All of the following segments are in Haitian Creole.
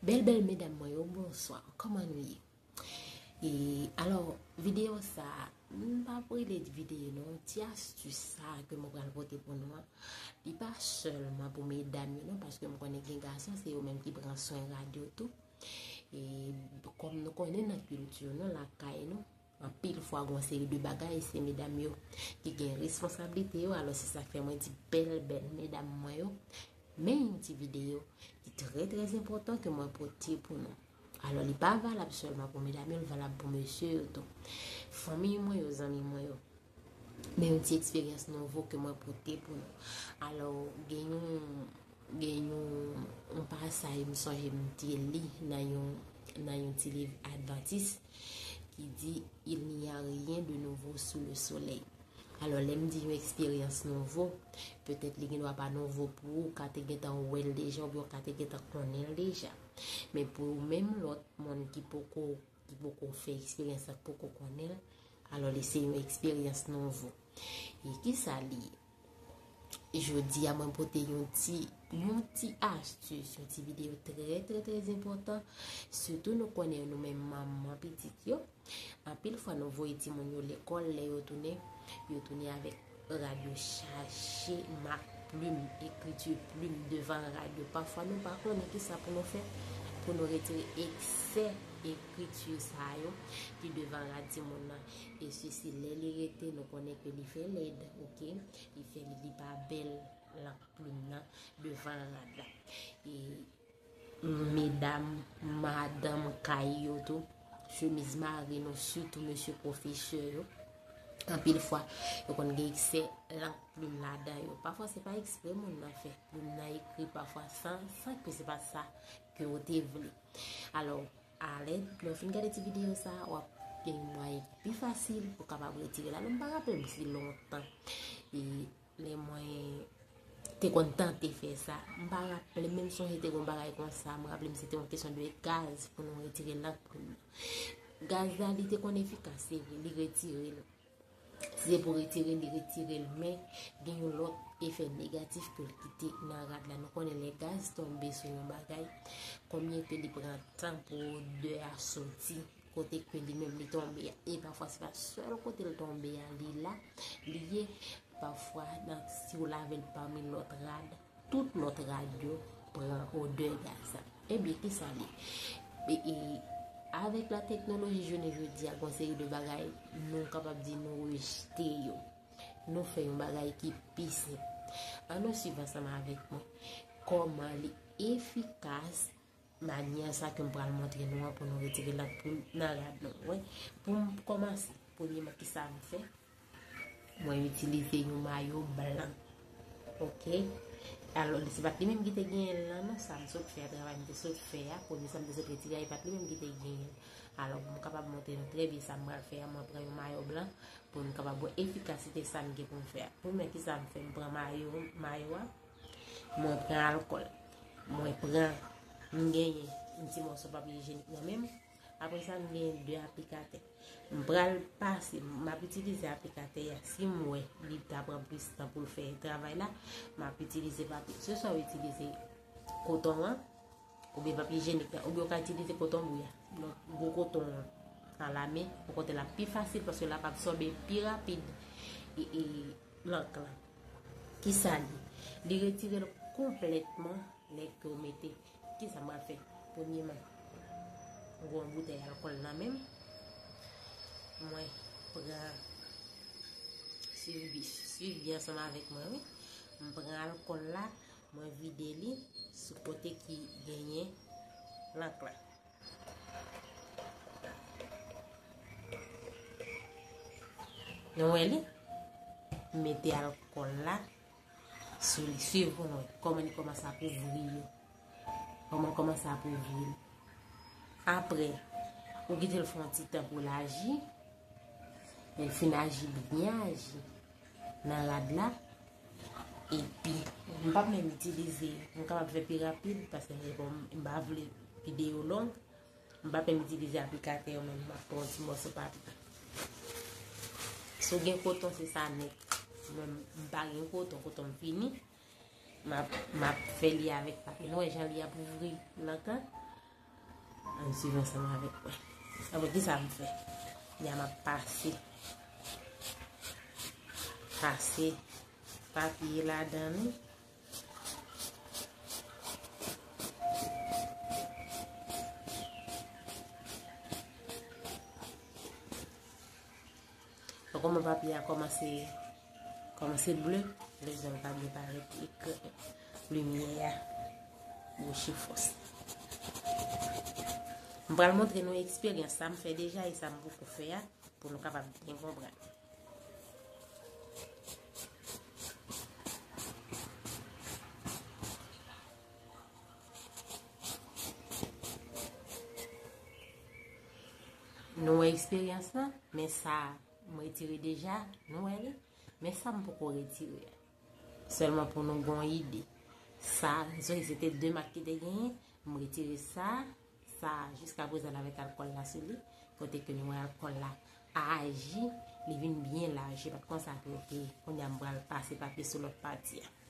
Bèl bèl medam mwen yo, bonswa, kòman nou ye? E, alò, videyo sa, mwen pa pou li de videyo nou, ti astu sa ke mwen pral pote pou nou an, li pa sèlman pou medam yo nou, paske mwen konnen gen gason, se yo menm ki pran swen rad yo tou. E, kòm nou konnen nan kilti yo nou, lakay nou, Anpil fwa gon seri de bagay se medam yo ki gen responsablite yo alò se sak fè mwen di bèl bèl medam mwen yo men yon ti video ki trè trè enpòtan ke mwen pote pou nou alò li pa valab sèlman pou medam yo li valab pou mesye yo tou fanmiy mwen yo zanmi mwen yo Men yon ti eksperyans nouvo ke mwen pote pou nou. Alò, gen yon, gen yon, yon pasay m sonje m te li nan yon, nan yon ti liv advantis ki di, Il n'y a rien de nouveau sous le soleil. Alò, lè m di yon eksperyans nouvo, petèt li gen dwa pa nouvo pou ou, ka te gen tan wè l deja oubyen ou ka te gen tan konnen l deja. Men pou menm lòt moun ki poko ki poko fè eksperyans la, ki poko konnen l, alò li se yon eksperyans nouvo. E ki sa li ye? Jodi a mwen pote yon ti, yon ti astus, yon ti videyo trè trè trè zenpotan, sitou nou konnen nou men manman pitit yo, anpil fwa nou voye ti moun yo lekòl, lè yo tounen, yo tounen avèk. Rad yo chaje mak plim, ekriti plim devan rad yo. Pafwa nou pa konnen ki sa pou nou fè pou nou retire eksè ekriti sa yo ki devan rad timoun nan. E sesi lè li rete nou konnen ke li fè lèd, ok, li fè lèd li pa bèl lank plim nan devan rad la. E. Medam madanm kay yo tou chemiz mari nou sitou mesye pwofesè yo anpil fwa yo konn gen eksè lank plim ladan yo pafwa se pa eksprè moun nan fè plim nan ekri pafwa san san ke se pa sa ke ou te vle alò alè lè ou fin gade ti videyo sa a wap gen yon mwayen ki pi fasil pou kapab retire la menm pa rapèm si lontan e Lè mwen te konn tante fè sa. M pa raple menm son se te kon bagay kon sa. M raple m se te yon kesyon de gaz pou nou retire lank pou nou. Gaz la li te kon efikas se vre, li retire l. Si se pou retire li retire l men gen yon lòt efè negatif ke l kite nan rad la. Nou konnen lè gaz tonbe sou yon bagay, konbyen ke li pran tan pou odè a soti. Kote ke li menm li tonbe a. E pafwa se pa sèl kote li tonbe a li la. Li ye pafwa nan si ou lave l pami lòt rad. Tout lòt rad yo pran odè gaz la. E byen ki sa li. E avèk la teknoloji jounen jodi a konseri de bagay nou kapab di nou rejte yo. Nou fè yon bagay ki pi senp. An nou siv ansanm avèk mwen. Koman li efikas. Manyè sa ke m pral montre nou an pou nou retire lang plim nan rad nou. Wè, pou m kòmanse, premyeman ki sa m fè? Mwen itilize yon mayo blan. Ok? Alò, se pa t li menm ki te genyen l lan non, sa m sot fè a, travay m te sot fè a, premye sa m te sot retire a, e pa t li menm ki te genyen l. Alò, pou m kapab montre nou trè byen sa m pral fè a, mwen pran yon mayo blan pou nou kapab wè efikasite sa m gen pou m fè a. Premye ki sa m fè? M pran mayo, mayo a. Mwen pran alkòl. Mwen pran. M genyen yon ti mòso papye ijenik nan menm. Apre sa, m genyen 2 aplikatè. M pral pase, m ap itilize aplikatè ya. Si m wè li ta pran plis tan pou l fè travay la, m ap itilize papye. Se sa w itilize koton an, ou byen papye ijenik la. Ou byen w ka itilize koton bou ya. Donk, gwo koton an, an lame, pou kote l ap pi fasil, paske l ap absòbe pi rapid. E, e, Plank lan. Kisa li? Li retire l konplètman lè ke w mete. Kisa m pral fè? Premyeman, m gen yon boutèy alkòl nan men m. Mwen pran, swiv byen ansanm avèk mwen wi. M pran alkòl la, mwen vide li sou kote ki genyen plank lan. Nou wè li? Mete alkòl la sou li. Siv pou nou. Kòman li kòman sa pou vri yo. Kòman kòman sa pou vri. Apre, ou gite l fon ti tan pou l aji. Men fin aji, li byen aji. nan rad la epi m pap menm itilize m kapab fè pi rapid paske m pa vle videyo long m pap menm itilize aplikatè yo menm m ap pran yon ti mòso papye si w gen koton se sa nèt mwen m pa gen koton koton m fini m ap fè li avèk papye nou wè jan li ap ouvri nan kan Ann swiv ansanm avèk mwen. Apre ki sa m fè? Byen m ap pase. Pase papye ladan li. Ou koman papye a komanse komanse ble, le zon pa byen parèt e ke limye a bouche fos. M pral montre nou eksperyans sa m fè deja e sa m pou fè a pou nou kapab byen konprann. Nou wè eksperyans lan, men sa m retire deja, nou wè li, men sa m poko retire a. Sèlman pou nou gon ide. Sa, se se te 2 mak ki te genyen, m retire sa, sa jiska prezan avèk alkòl la sou li, kote ke nou wè alkòl la aji, li vin byen laj, se pat konsa ke li te, kounye a m pral pase papye sou lòt pati a.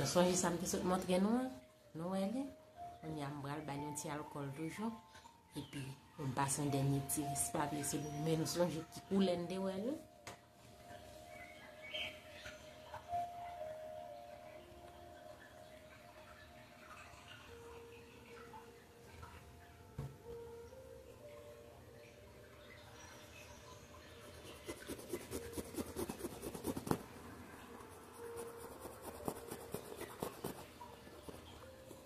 Nou sonje sa m te sot montre nou an? Nou wè li? Kounye a m pral ba l yon ti alkòl toujou. Epi, m pase yon dènye ti ris papye sou li. Men nou sonje ki koulè n te wè l la.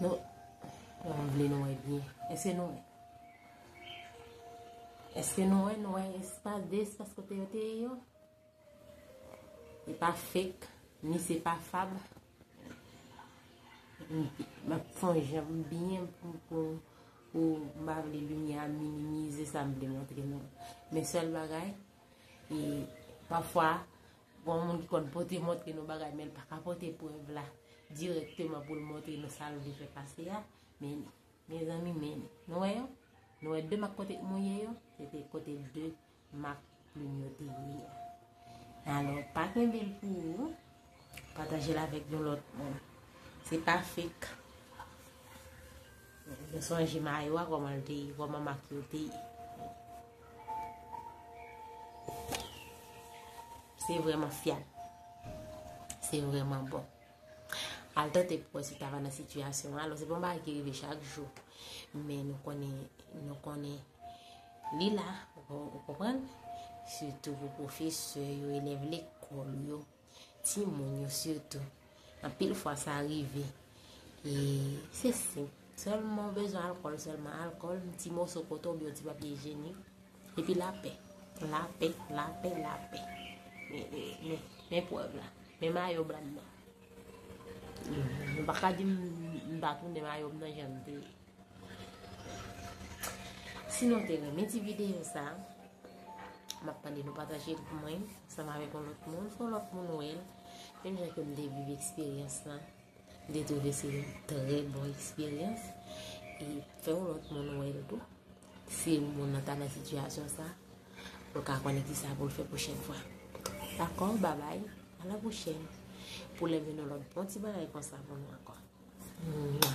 Nou, nou an vle nou e byen. Ese nou e. Ese nou e, nou e espas de espas kote yo te e yo. E pa fek, ni se pa fab. Mwen fon jem byen pou pou. Pou m pa vle limyè a minimize sa m vle montre nou an. Men sèl bagay, e pafwa, gon moun ki konn pote montre nou bagay men l pa ka pote prèv la dirèkteman pou l montre nou sa l vle fè pase a. Men, mezanmi men, nou wè yo? Nou wè 2 mak kote k mouye yo? Se te kote 2 Mak plim yo te ye. Alò, pa kenbe l pou ou, pataje l avèk yon lòt moun. Se pa fek. Mwen sonje mayo a kòman l te ye, kòman mak yo te ye. Se vreman fyab. Se vreman bon. Al tante pou wè si ta va nan sitiyasyon an. Alò se bon bagay ki rive chak jou. Men nou konnen, nou konnen li la. Ou konprann? Sitou pou pwofesè yo, elèv lekòl yo, ti moun yo sitou. An pil fwa sa rive. E se se. Sèlman ou bezwen alkòl, sèlman alkòl, ti moso koton, biyon ti papye jeni. Epi lapè, lapè, lapè, lapè. Men pwèv la. Men mayo blan nan. Mwen pa ka di m pa tou men mayo blan jan m te ye. Si nou te renmen ti videyo sa, m ap mande nou pataje l pou mwen. Sa m ave kon lòt moun, fon lòt moun wè l. Menm jan ke m te viv eksperyans la. M te twouve se yon trè bon eksperyans. E fè yon lòt moun wè l tou. Si yon moun nan ta nan sitiyasyon sa, pou l ka konnen ki sa pou l fè pwochèn fwa. Dakò, babay, a la pwochèn, pou lè vin yon lòt bon ti bagay konsa pou nou ankò. Mwa.